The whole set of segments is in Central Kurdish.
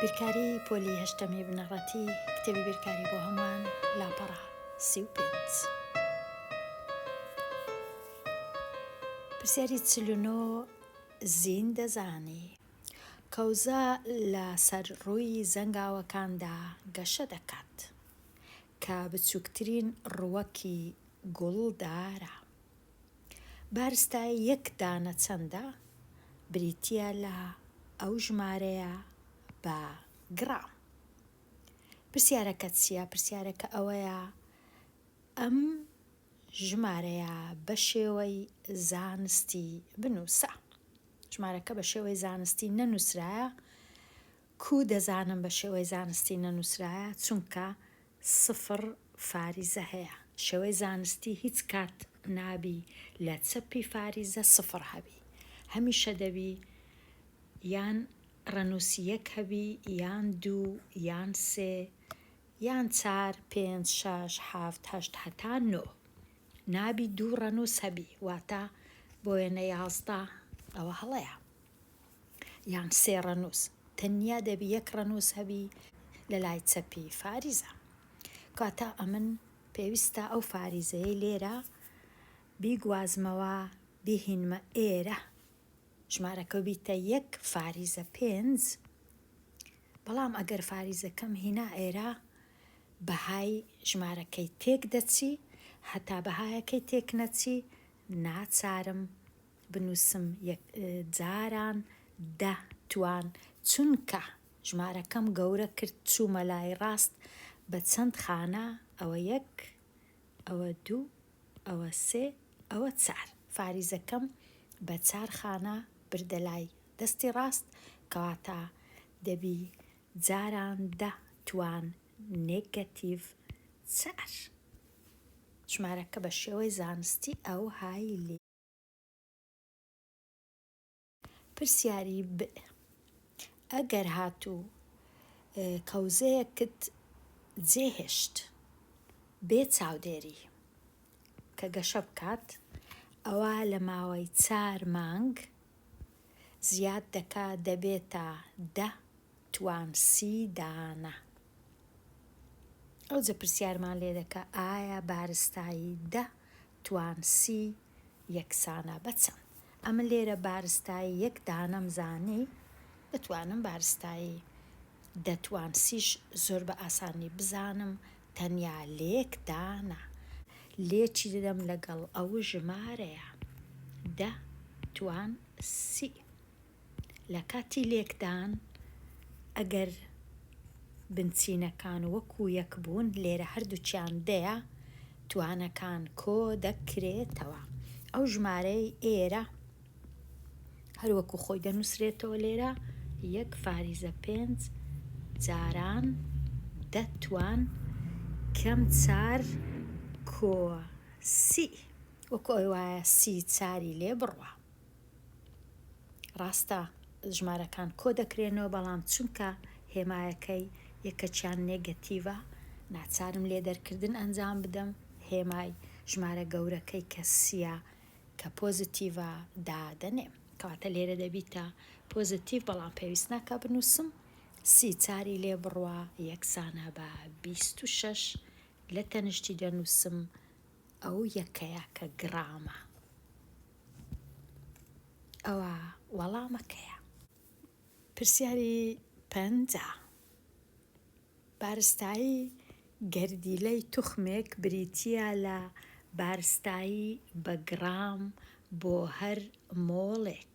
بیرکاری پۆلی هەشتەمی بنەڕەتی کتێبی بیرکاری بۆ هەمووان لاپەڕە سی و پێنج پرسیاری چلونۆ زین دەزانی کەوزە لە سەر ڕووی زەنگاوەکاندا گەشە دەکات کە بچووکترین ڕووەکی گوڵدارە بارستا یەک دانە چەندە بریتیە لە ئەو ژمارەیە بە گڕام پرسیارەکە چیە پرسیارەکە ئەوەیە ئەم ژمارەیە بە شێوەی زانستی بنووسە ژمارەکە بە شێوەی زانستی نەنووسرایە کوو دەزانم بە شێوەی زانستی نەنووسرایە چونکە سفر فاریزە هەیە شێوەی زانستی هیچ کات نابی لە چەپی فاریزە سفر هەبی هەمیشە دەبی یان ڕەنووسی یەک هەبی یان دوو یان سێ یان چار پێنج شەش حەفت هەشت هەتا نۆ نابی دوو ڕەنووس هەبی واتە بۆ وێنە یازدە ئەوە هەڵەیە. یان سێ ڕەنووس، تەنیا دەبی یەک ڕەنووس هەبی لە لای چەپی فاریزە. کەواتە ئەمن پێویستە ئەو فاریزەیەی لێرە بیگوازمەوە بیهینمە ئێرە. ژمارەکە بیتە یەک فاریزە پێنج. بەڵام ئەگەر فاریزەکەم هینا ئێرە بەهای ژمارەکەی تێک دەچی هەتا بەهایەکەی تێک نەچی ناچارم بنوسم یەک جاران دە توان چونکە ژمارەکەم گەورە کرد چومە لای ڕاست بە چەند خانە ئەوە یەک ئەوە دوو ئەوە سێ ئەوە چار فاریزەکەم بە چار خانە بردە لای دەستی ڕاست کەواتە دەبی جاران دە توان نێگەتیڤ چار ژمارەکە بە شێوەی زانستی ئەو هایی لێ پرسیاری، ب ئەگەر هاتوو کەوزەیەکت جێ هێشت بێ چاودێری کە گەشە بکات ئەوا لە ماوەی چار مانگ زیاد دەکا دەبێتە دە توام سی دانە. ئەوجە پرسیارمان لێ دەکا ئایا بارستایی دە توام سی یەکسانە بە چەند؟ ئەمن لێرە بارستایی یەک دانەم زانی دەتوانم بارستایی دە توام سیش زۆر بە ئاسانی بزانم تەنیا لەیەک دانە لێکی دەدەم لەگەڵ ئەو ژمارەیە دە توام سی. لە کاتی لێکدان ئەگەر بنچینەکان وەکو یەک بوون، لێرە هەردووکیان دەیە، توانەکان کۆ دەکرێتەوە. ئەو ژمارەیەی ئێرە هەر وەکو خۆی دەنووسرێتەوە لێرە، یەک فاریزە پێنج جاران دە توان کەم چار کۆ سی، وەکو ئەوەیە سی چاری لێ بڕوا. ڕاستە ژمارەکان کۆ دەکرێنەوە بەڵام چونکە هێمایەکەی یەکەکیان نێگەتیڤە ناچارم لێ دەرکردن ئەنجام بدەم هێمای ژمارە گەورەکەی کە سیە کە پۆزتیڤە دادەنێم کەواتە لێرە دەبیتە پۆزتیڤ بەڵام پێویست ناکە بنووسم سی چاری لێ بڕوا یەکسانە بە بیست و شەش لە تەنشتی دەنووسم ئەو یەکەیە کە گرامە ئەوە وەڵامە کەیە. پرسیاری پەنجا، بارستایی گەردیلەی توخمێک بریتییە لە بارستایی بە گڕام بۆ هەر مۆڵێک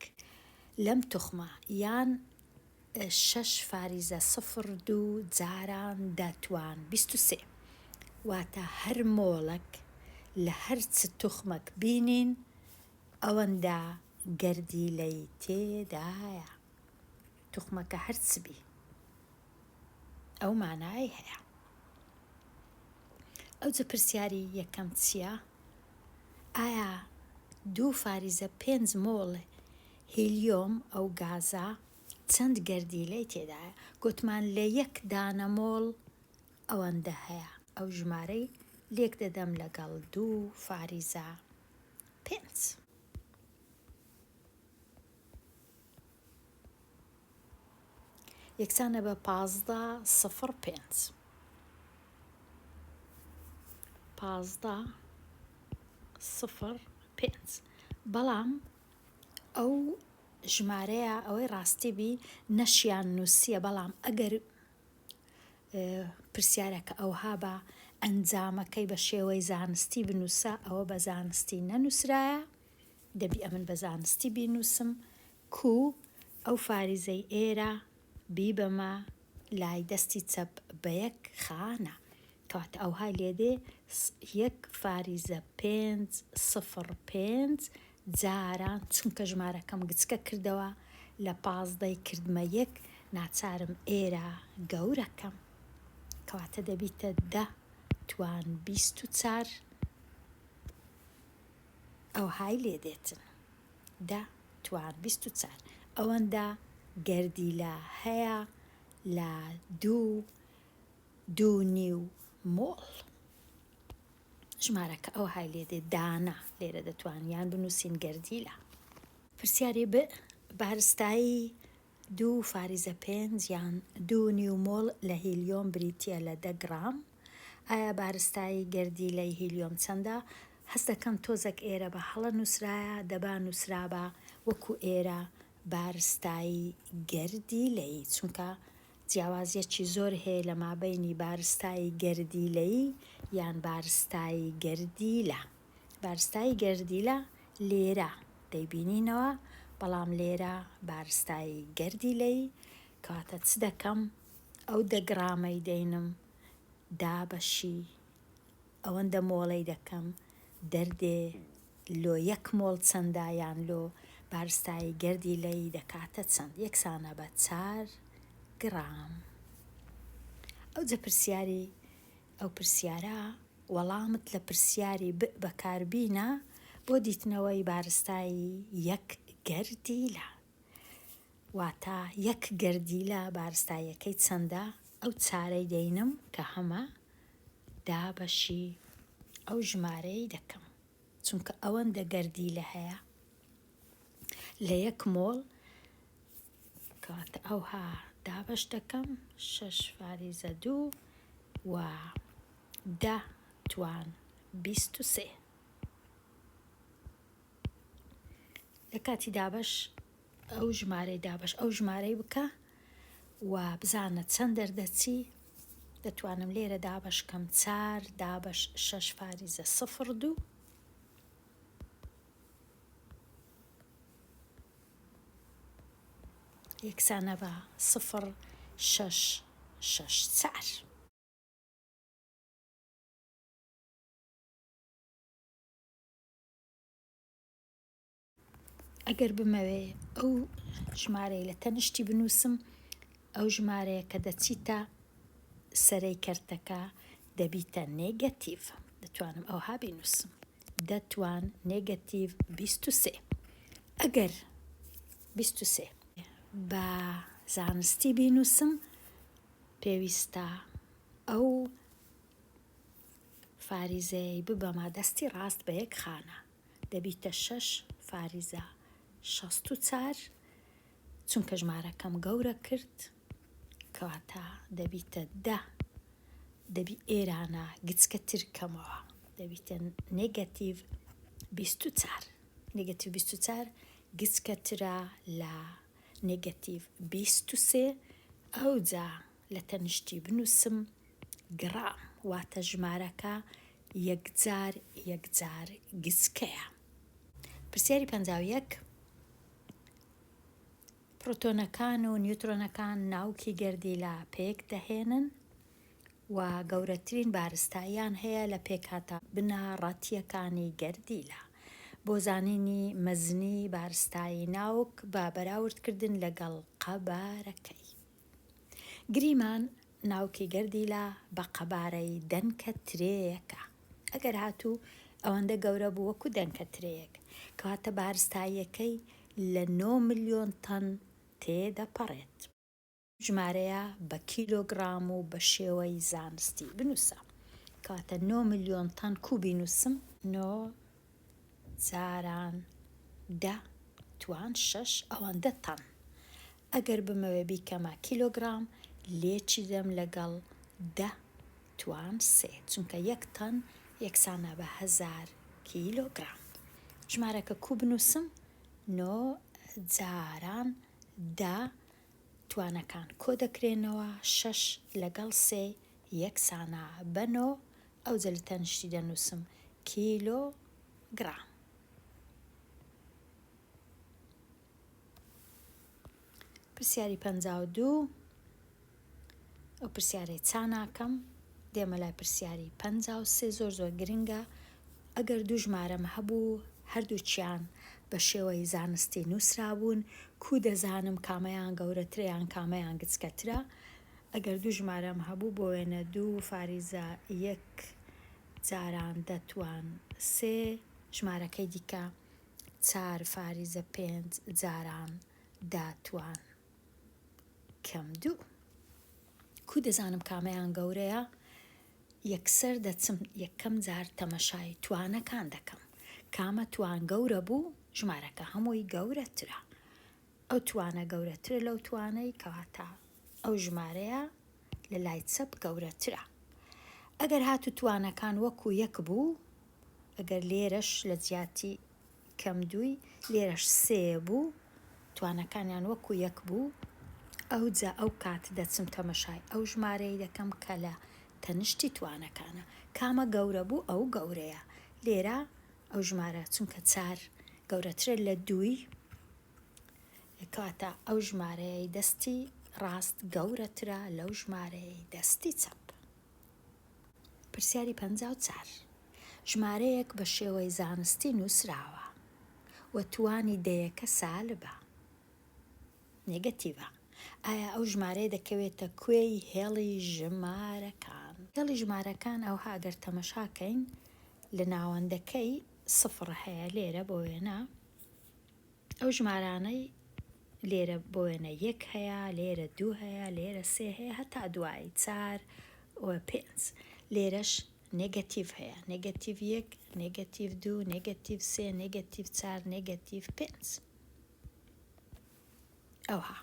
لەم توخمە یان شەش فاریزە سفر دوو جاران دەتوان بیست و سێ واتە هەر مۆڵەک لە هەر چ توخمەک بینین ئەوەندە گەردی لەی تێدایە توخمەکە هەر چ بی ئەو مانای هەیە ئەوجە پرسیاری یەکەم چییە ئایا دوو فاریزە پێنج مۆڵ هیلیۆم، ئەو گازە چەند گەردیلەی تێدایە؟ گوتمان لە یەک دانە مۆڵ ئەوەندە هەیە. ئەو ژمارەی لێک دەدەم لەگەڵ دوو فاریزە پێنج. یەکسانە بە پازدە سفر پێنج. پازدە سفر پێنج. بەڵام ئەو ژمارەیە ئەوەی ڕاستی بی نەشیان نووسیە بەڵام ئەگەر پرسیارەکە ئەوها بە ئەنجامەکەی بە شێوەی زانستی بنووسە ئەوە بە زانستی نەنووسرایە دەبی ئەمن بە زانستی بینووسم کو ئەو فاریزەی ئێرە بیبەمە لای دەستی چەپ بە یەک خانە کەواتە ئەوهای لێ دێ یەک فاریزە پێنج سفڕ پێنج جاران چونکە ژمارەکەم گچکە کردەوە لە پازدەی کردمە یەک ناچارم ئێرە گەورەکەم کەواتە دەبیتە دە توان بیست و چار ئەوهای لێ دێتن دە توار بیست و چار ئەوەندە گەردیلە هەیە لە دوو دوو نیو مۆڵ ژمارەکە ئەو های لێ دێ دانە لێرە دەتوانیان بنووسین گەردیلە پرسیاری بارستایی دوو فاریزە پێنج یان دوو نیو مۆڵ لە هیلیۆم بریتییە لە دە گڕام. ئایا بارستایی گەردیلەی هیلیۆم چەندە؟ هەست دەکەم تۆزەک ئێرە بە هەڵە نووسرایە، دەبا نووسرابا وەکوو ئێرە بارستایی گەردیلەیی، چونکە جیاوازییەکی زۆر هەیە لە مابەینی بارستایی گەردیلەیی یان بارستایی گەردیلە. بارستایی گەردیلە لێرە دەیبینینەوە، بەڵام لێرە بارستایی گەردیلەی کەواتە چ دەکەم؟ ئەو دە گڕامەی دەینم دابەشی ئەوەندە مۆڵەی دەکەم دەردێ لۆ یەک مۆڵ چەندە یان لۆ بارستایی گەردیلەی دەکاتە چەند یەکسانە بە چار گڕام. ئەوجە پرسیاری ئەو پرسیارە وەڵامت لە پرسیاری بئ بەکاربینە بۆ دیتنەوەی بارستایی یەک گەردیلە. واتە یەک گەردیلە بارستاییەکەی چەندە؟ ئەو چارەی دەینم کە هەمە دابەشی ئەو ژمارەی دەکەم. چونکە ئەوەندە گەردیلە هەیە لە یەک مۆڵ کات ئەوها دابەش دەکەم شەش فاریزە دوو و دە توان بیست و سێ لە کاتی دابەش ئەو ژمارەی دابەش ئەو ژمارەی بکە و بزانە چەند دەردەچی دەتوانم لێرە دابەش کەم چار دابەش شەش فاریزە سفر دوو یەکسانە بە سفر شەش شەش چار. ئەگەر بمەوێ ئەو ژمارەی لە تەنیشتی بنووسم ئەو ژمارەیە کە دەچیتە سەرەی کەرتەکە دەبیتە نێگەتیڤ دەتوانم ئەوها بینووسم دەتوان نێگەتیڤ 23 ئەگەر بیست و سێ. بە زانستی بینووسم پێویستە ئەو فاریزەیەی ببەمە دەستی ڕاست بە یەک خانە دەبیتە شەش فاریزە شەست و چار چونکە ژمارەکەم گەورە کرد کەواتە دەبیتە دە دەبی ئێرانە گچکە ترکەمەوە دەبیتە نێگەتیڤ بیست و چار نێگەتیڤ بیست و چوار گچکەترە لە نێگەتیڤ بیست و سێ، ئەوجا لە تەنیشتی بنووسم گڕام، واتە ژمارەکە یەکجار یەکجار گچکەیە. پرسیاری پەنجا و یەک، پڕۆتۆنەکان و نیوترۆنەکان ناوکی گەردیلە پێک دەهێنن، و گەورەترین بارستاییان هەیە لە پێکهاتە بنەڕەتییەکانی گەردیلە. بۆ زانینی مەزنی بارستایی ناوک بە بەراوردکردن لەگەڵ قەبارەکەی گریمان، ناوکی گەردیلە بە قەبارەی دەنکە ترێیەکە ئەگەر هاتوو ئەوەندە گەورە بوو وەکو دەنکە ترێیەک، کەواتە بارستاییەکەی لە نۆ ملیۆن تەن تێدەپەڕێت. ژمارەیە بە کیلۆگڕام و بە شێوەی زانستی بنووسە. کەواتە نۆ ملیۆن تەن کوو بینووسم؟ نۆ جاران دە توان شەش ئەوەندە تەن. ئەگەر بمەوێ بیکەمە کیلۆگڕام لێچیدەم لەگەڵ دە توان سێ چونکە یەک تەن یەکسانە بە هەزار کیلۆگڕام. ژمارەکە کوو بنووسم؟ نۆ جاران دە توانەکان کۆدەکرێنەوە، شەش لەگەڵ سێ یەکسانە بە نۆ، ئەوجە لە تەنیشتی دەنووسم، کیلۆ گڕام. پرسیاری پەنجا و دوو، ئەو پرسیارەی چا ناکەم، دێمە لای پرسیاری پەنجا و سێ، زۆر زۆر گرنگە، ئەگەر دوو ژمارەم هەبوو هەردووکیان بە شێوەی زانستی نووسرابوون، کوو دەزانم کامەیان گەورەترە یان کامەیان گچکەترە؟ ئەگەر دوو ژمارەم هەبوو بۆ وێنە دوو فاریزە یەک جاران دەتوان سێ ژمارەکەی دیکە چار فاریزە پێنج جاران دەتوان کەم دوو کوو دەزانم کامەیان گەورەیە؟ یەکسەر دەچم یەکەم جار تەمەشای توانەکان دەکەم کامە توان گەورە بوو ژمارەکە هەمووی گەورەترە ئەو توانە گەورەترە لەو توانەی کەواتە ئەو ژمارەیە لە لای چەپ گەورەترە ئەگەر هاتو توانەکان وەکو یەک بوو ئەگەر لێرەش لە جیاتی کەم دووی لێرەش سێ بوو توانەکانیان وەکو یەک بوو ئەوجا ئەو کات دەچم تەمەشای ئەو ژمارەی دەکەم کە لە تەنشتی توانەکانە کامە گەورە بوو ئەو گەورەیە لێرە ئەو ژمارە چونکە چار گەورەترە لە دووی کەواتە ئەو ژمارەیەی دەستی ڕاست گەورەترە لەو ژمارەیەی دەستی چەپ پرسیاری پەنجا و چار ژمارەیەک بە شێوەی زانستی نووسراوە و توانی دەیەکە سالبە، نێگەتیڤە، ئایا ئەو ژمارەیە دەکەوێتە کوێی هێڵی ژمارەکان؟ هێڵی ژمارەکان ئەوها ئەگەر تەمەشا کەین لە ناوەندەکەی سفڕ هەیە لێرە بۆ وێنە، ئەو ژمارانەی لێرە بۆ وێنە یەک هەیە لێرە دوو هەیە لێرە سێ هەیە هەتا دوایی چار پێنج لێرەش نێگەتیڤ هەیە نێگەتیڤ یەک نێگەتیڤ دوو نێگەتیڤ سێ نێگەتیڤ چار نێگەتیڤ پێنج ئەوها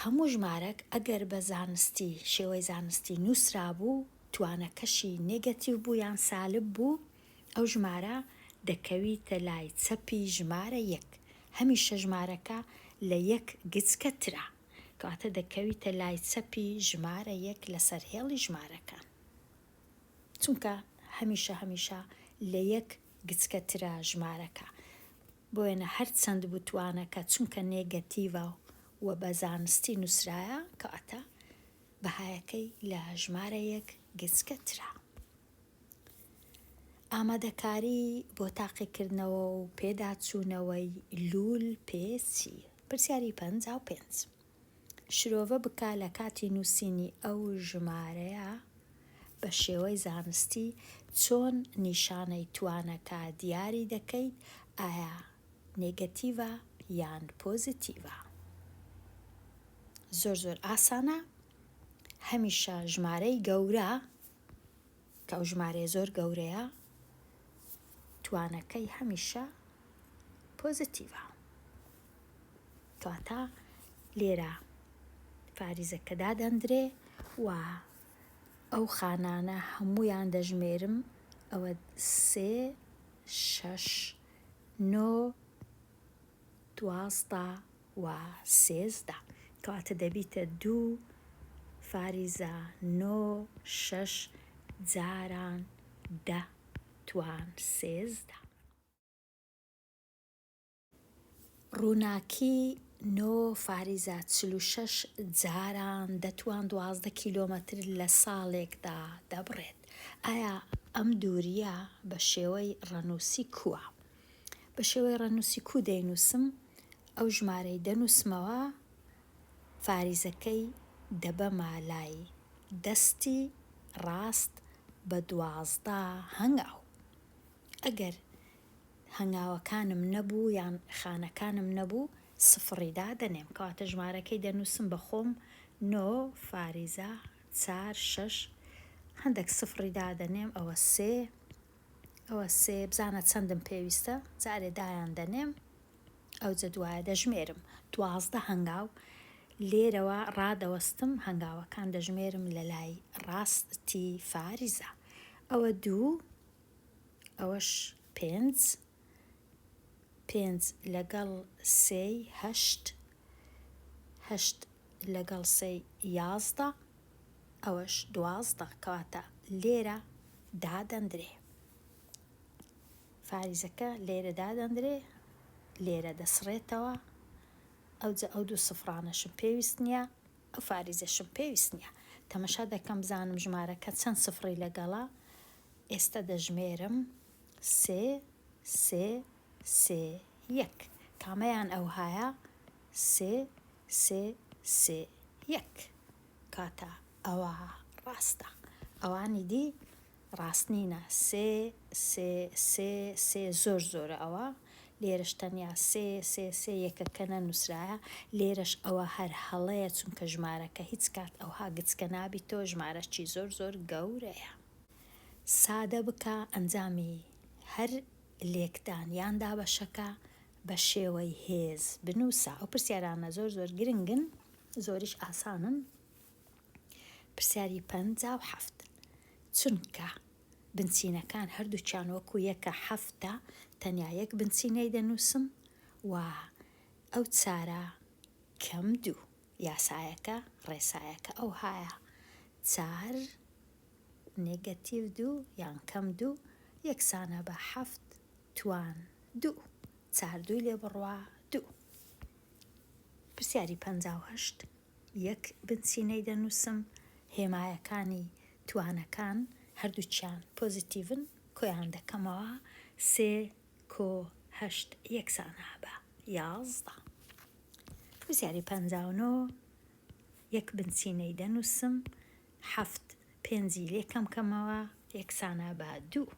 هەموو ژمارەک ئەگەر بە زانستی شێوەی زانستی نووسرا بوو توانەکەشی نێگەتیو بوو یان سالب بوو ئەو ژمارە دەکەویتە لای چەپی ژمارە یەک، هەمیشە ژمارەکە لە یەک گچکەترە، کەواتە دەکەویتە لای چەپی ژمارە یەک لەسەر هێڵی ژمارەکان، چونکە هەمیشە هەمیشە لە یەک گچکەترە ژمارەکە، بۆ وێنە هەر چەند بتوانەکە چونکە نێگەتیڤە و بە زانستی نووسرایە، کەواتە بەهایەکەی لە ژمارە یەک گچکەترە. ئامادەکاری بۆ تاقیکردنەوە و پێداچوونەوەی لوول پێچی پرسیاری پەنجا و پێنج شرۆڤە بکە لە کاتی نووسینی ئەو ژمارەیە بە شێوەی زانستی چۆن نیشانەی توانەکە دیاری دەکەیت ئایا نێگەتیڤە یان پۆزیتیڤە زۆر زۆر ئاسانە هەمیشە ژمارەی گەورە کە ئەو ژمارەیە زۆر گەورەیە توانەکەی هەمیشە پۆزەتیڤە کەواتە لێرە پاریزەکە دادەندرێ و ئەو خانانە هەمویان دەژمێرم ئەوە سێ شەش نۆ دوازدە و سێزدە کەواتە دەبیتە دوو فاریزە نۆ شەش جاران دە توان سێزدە. ڕووناکی نۆ فاریزە چل و شەش جاران دە توان دوازدە کیلۆمەتر لە ساڵێکدا دەبڕێت ئایا ئەم دوورییە بە شێوەی ڕەنووسی کووە؟ بە شێوەی ڕەنووسی کوو دەینووسم، ئەو ژمارەی دەنووسمەوە فاریزەکەی دەبەمە لای دەستی ڕاست بە دوازدە هەنگاو. ئەگەر هەنگاوەکانم نەبوو یان خانەکانم نەبوو سفڕی دادەنێم، کەواتە ژمارەکەی دەنووسم بە خۆم نۆ فاریزە چار شەش هەندەک سفڕی دادەنێم ئەوە سێ، ئەوە سێ بزانە چەندم پێویستە، جارێ دایان دەنێم، ئەوجە دوایە دەژمێرم، دوازدە هەنگاو، لێرەوە ڕادەوەستم، هەنگاوەکان دەژمێرم لە لای ڕاستی فاریزە، ئەوە دوو، ئەوەش پێنج، پێنج لەگەڵ سێی هەشت. هەشت لەگەڵ سێی یازدە. ئەوەش دوازدە کەواتە لێرە دادەندرێ. فاریزەکە لێرە دادەندرێ لێرە دەسڕێتەوە ئەوجە ئەو دوو سفرانەشم پێویست نییە ئەو فاریزەشم پێویست نییە تەمەشا دەکەم بزانم ژمارەکە چەند سفری لەگەڵە ئێستا دەژمێرم سێ سێ سێ یەک کامەیان ئەوهایە سێ سێ سێ یەک کاتە ئەوە ڕاستە ئەوانی دی ڕاست نینە سێ سێ سێ سێ زۆر زۆرە ئەوە لێرەش تەنیا سێ سێ سێ یەکەکە نەنووسرایە لێرەش ئەوە هەر هەڵەیە چونکە ژمارەکە هیچ کات ئەوها گچکە نابیتەوە ژمارەشی زۆر زۆر گەورەیە. سادە بکە ئەنجامی هەر لێکدان یان دابەشەکە بە شێوەی هێز بنووسە ئەو پرسیارانە زۆر زۆر گرنگن زۆریش ئاسانن پرسیاری پەنجا و حەفت چونکە بنچینەکان هەردووچیان وەکو یەکە حەفتە تەنیا یەک بنچینەی دەنووسم و ئەو چارە کەم دوو یاسایەکە ڕێسایەکە ئەو هایە چار نێگەتیڤ دوو یان کەم دوو یەکسانە بە حەفت توان دوو چار دووی لێ بڕوا دوو. پرسیاری پەنجا و هەشت یەک بنچینەی دەنووسم، هێمایەکانی توانەکان هەردووکیان پۆزیتیڤن، کۆیان دەکەمەوە، سێ کۆ هەشت یەکسانە بە یازدە. پرسیاری پەنجا و نۆ یەک بنچینەی دەنووسم، حەفت، پێنجی لێ کەم کەمەوە یەکسانە بە دوو.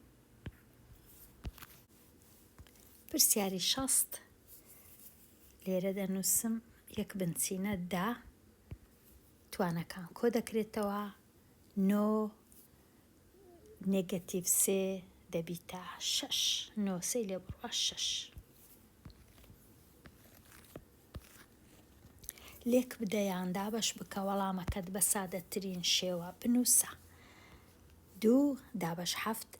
پرسیاری شەست، لێرە دەنووسم یەک بنچینە دە توانەکان کۆ دەکرێتەوە نۆ نێگەتیڤ سێ دەبیتە شەش نۆ سێی لێ بڕوا شەش. لێکبدە یان دابەش بکە وەڵامەکەت بە سادەترین شێوە بنووسە. دوو دابەش حەفت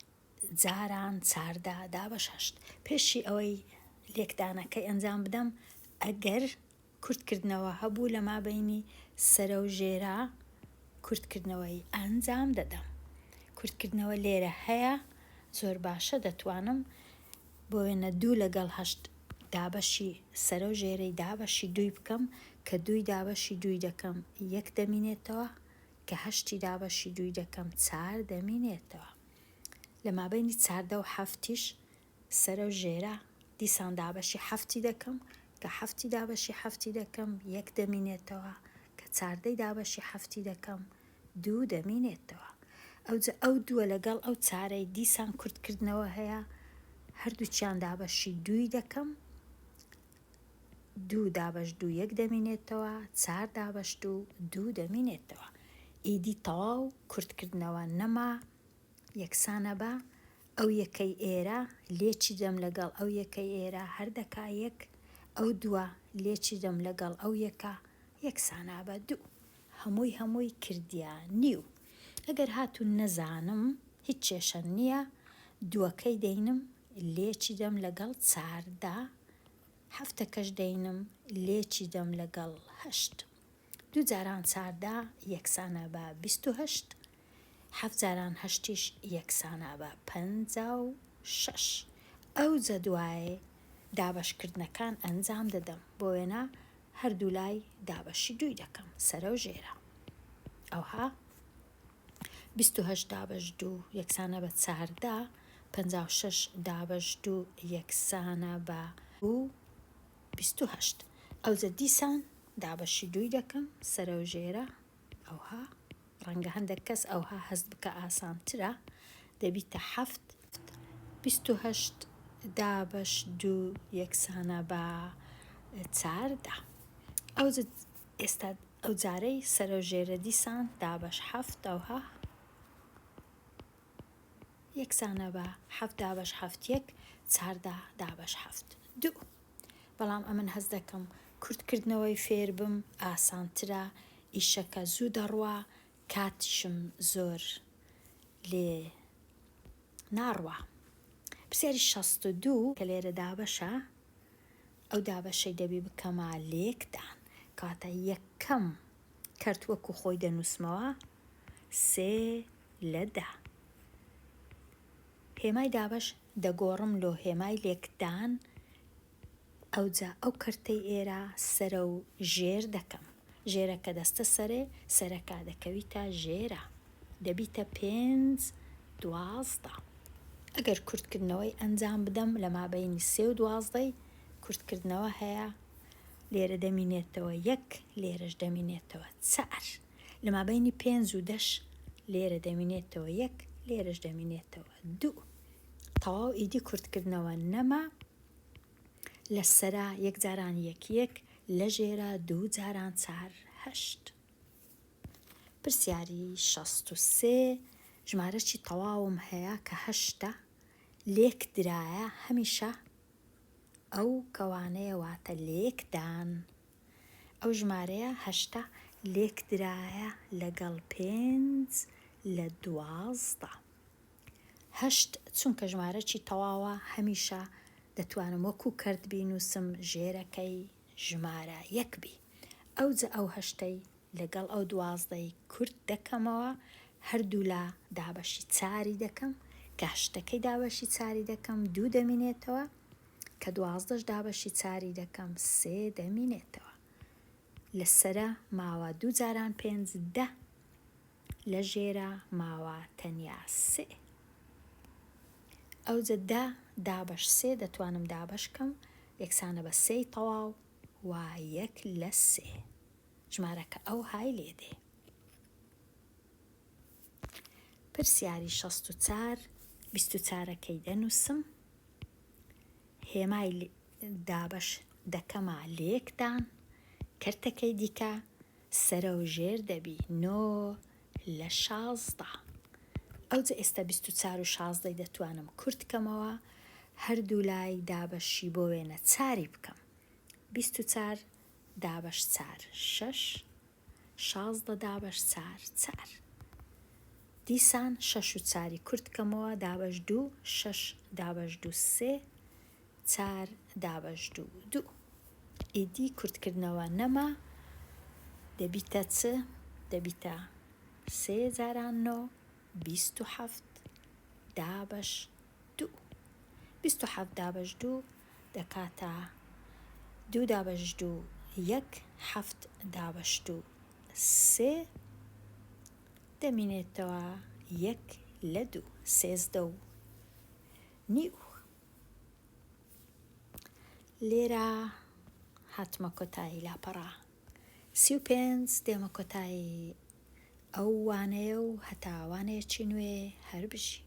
جاران چاردا دابەش هەشت پێشی ئەوەی لێکدانەکەی ئەنجام بدەم ئەگەر کورتکردنەوە هەبوو لە مابەینی سەرە و ژێرە کورتکردنەوەی ئەنجام دەدەم کورتکردنەوە لێرە هەیە زۆر باشە دەتوانم بۆ وێنە دوو لەگەڵ هەشت دابەشی سەرە و ژێرەی دابەشی دووی بکەم کە دووی دابەشی دووی دەکەم یەک دەمینێتەوە کە هەشتی دابەشی دووی دەکەم چار دەمینێتەوە لە مابەینی چاردە و حەفتیش سەرە و ژێرە، دیسان دابەشی حەفتی دەکەم، کە حەفتی دابەشی حەفتی دەکەم، یەک دەمینێتەوە، کە چاردەی دابەشی حەفتی دەکەم، دوو دەمینێتەوە. ئەوجە ئەو دووە لەگەڵ ئەو چارەی دیسان کورتکردنەوە هەیە، هەردووکیان دابەشی دووی دەکەم، دوو دابەش دوو یەک دەمینێتەوە، چار دابەش دوو دوو دەمینێتەوە. ئیدی تەواو کورتکردنەوە نەما، یەکسانە بە ئەو یەکەی ئێرە، لێ چی دەم لەگەڵ ئەو یەکەی ئێرە، هەر دەکا یەک، ئەو دووە، لێ چی دەم لەگەڵ ئەو یەکە، یەکسان ئابە دوو. هەمووی هەمووی کردیە نیو. ئەگەر هاتوو نەزانم، هیچ کێشە نیە، دووەکەی دەینم، لێ چی دەم لەگەڵ چاردە، هەفتەکەش دەینم، لێ چی دەم لەگەڵ هەشت. دوو جاران چاردە یەکسانە بە بیست و هەشت، حەفت جاران هەشتیش یەکسانە بە پەنجا و شەش. ئەو جەدوای دابەشکردنەکان ئەنجام دەدەم، بۆ وێنە هەردوولای دابەشی دووی دەکەم، سەرە و ژێرە. ئەوها بیست و هەشت دابەش دوو یەکسانە بە چاردە، پەنجا و شەش دابەش دوو یەکسانە بە دوو، بیست و هەشت، ئەوجە دیسان دابەشی دووی دەکەم، سەرەو ژێرە، ئەوها، ڕەنگە هەندەک کەس ئەوها هەست بکا ئاسانترە، دەبیتە حەفت. بیست و هەشت دابەش دوو یەکسانە بە چار دا. ئەوجە ئێستا ئەوجارەی سەرەو ژێرە دیسان دابەش حەفت ئەوها. یەکسانە بە حەفت دابەش حەفت یەک چاردە دابەش حەفت دوو بەڵام ئەمن هەز دەکەم کورتکردنەوەی فێربم ئاسانترە ئیشەکە زوو دەڕوا کاتیشم زۆر لێ ناڕوا پرسیاری شەست و دوو کە لێرە دابەشە ئەو دابەشەی دەبی بکەمە لێکدان کاتە یەکەم کەرت وەکو خۆی دەنووسمەوە سێ لە دا. هێمای دابەش دەگۆڕم لۆ هێمای لێکدان، ئەوجا ئەو کەرتەی ئێرا سەرە و ژێر دەکەم. ژێرە کە دەستە سەرێ، سەرەکا دەکەویتە ژێرا. دەبیتە پێنج دوازدە. ئەگەر کورتکردنەوەی ئەنجام بدەم لە مابەینی سێ و دوازدەی کورتکردنەوە هەیە، لێرە دەمینێتەوە یەک، لێرەش دەمینێتەوە چار. لە مابەینی پێنج و دەش لێرە دەمینێتەوە یەک لێرەش دەمینێتەوە دوو تەواو ئیدی کورتکردنەوە نەما لە سەرا یەک جاران یەک یەک لە ژێرا دوو جاران چار هەشت پرسیاری شەست و سێ ژمارەی تەواوم هەیە کە هەشتا لێک درایە هەمیشە ئەو کەوانەیە واتە لێک دان. ئەو ژمارەیە هەشتا لێک درایە لەگەڵ پێنج لە دوازدە. هەشت چونکە ژمارەکی تەواوە هەمیشە دەتوانم وەکو کەرت بینووسم ژێرەکەی ژمارە یەک بی ئەوجە ئەو هەشتەی لەگەڵ ئەو دوازدەی کورت دەکەمەوە هەردوولا دابەشی چاری دەکەم کە هەشتەکەی دابەشی چاری دەکەم دوو دەمینێتەوە کە دوازدەش دابەشی چاری دەکەم سێ دەمینێتەوە لەسرە ماوە دوو جاران پێنج دە لە ژێرا ماوە تەنیا سێ ئەوجە دە دابەش سێ دەتوانم دابەش کەم یەکسانە بە سێی تەواو و یەک لە سێ ژمارەکە ئەو های لێ دێ پرسیاری شەست و چار بیست و چارەکەی دەنووسم هێمای دابەش دەکەما لە یەکدان کەرتەکەی دیکە سەرەوژێر دەبی نۆ لە شازدە. ئەوجە ئێستا بیست و چار و شازدەی دەتوانم کورت کەمەوە هەردوولای دابەشی بۆ وێنە چاری بکەم بیست و چار دابەش چار شەش شازدە دابەش چار چار دیسان شەش و چاری کورت کەمەوە دابەش دوو شەش دابەش دوو سێ چار دابەش دوو دوو ئیدی کورتکردنەوە نەما دەبیتە چ؟ دەبیتە سێ جاران نۆ بیست و حەفت دابەش دوو بیست و حەفت دابەش دوو دەکاتە دوو دابەش دوو یەک حەفت دابەش دوو سێ دەمینێتەوە یەک لە دوو سێزدە و نیو لێرە هاتمە کۆتایی لاپەڕە سی و پێنج دێمە کۆتایی ئەو وانەیە و هەتاوانێکی نوێ هەر بژی